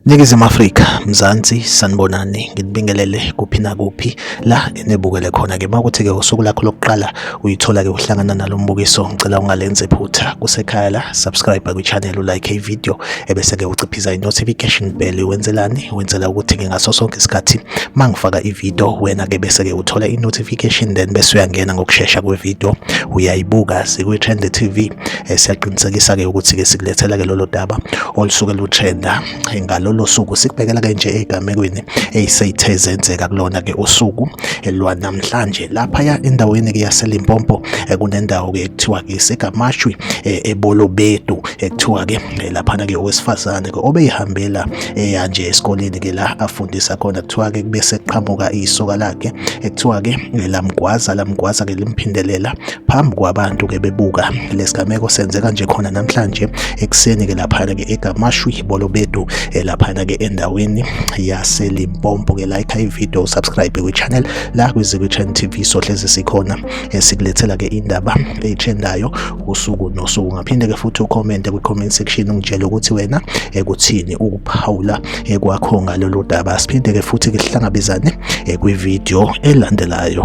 Ningizimu Afrika, Mzansi, sanibonani, nginibingelele kuphi nakuphi la enibukele khona ke makuthi ke usuku lakho lokuqala uyithola ke uhlangana nalombukiso, ngicela ungalenze phutha kusekhaya la, subscribe kwi channel, u like i video, ebese-ke uciphiza i-notification bell wenzelani wenzela ukuthi-ke ngaso sonke isikhathi uma ngifaka ividiyo wena-ke bese-ke uthola i-notification then bese uyangena ngokushesha kwevidiyo uyayibuka sikwi-trend t v eh, siyaqinisekisa-ke ukuthi-ke sikulethela-ke lolo daba olusuke lutrenda eh, ngalolo suku sikubhekela-ke nje ey'gamekweni ey'seyithe zenzeka kulona-ke usuku eh, lwanamhlanje laphaya endaweni-ke yaselimpompo kunendawo-ke ekuthiwa-ke isegamashwi ebolobedu ekuthiwa ke eh, laphana ke owesifazane ke obeyihambela eya eh, nje esikoleni ke la afundisa khona kuthiwa ke kube seqhamuka isoka lakhe ekuthiwa ke eh, lamgwaza lamgwaza ke limphindelela phambi kwabantu ke bebuka lesigameko senzeka nje khona namhlanje ekuseni ke laphana ke egamashwi bolobedu laphana ke endaweni yaselimpompo ke like i video subscribe kwi channel la kwi Zikwitchen TV sohlezi sikhona esikulethela ke indaba ethendayo usuku nosuku ngaphinde ke futhi ucommente kwi-comment section ungitshele ukuthi wena ekuthini eh, ukuphawula eh, kwakho ngalolu daba siphinde ke futhi ke sihlangabezane eh, kwividiyo elandelayo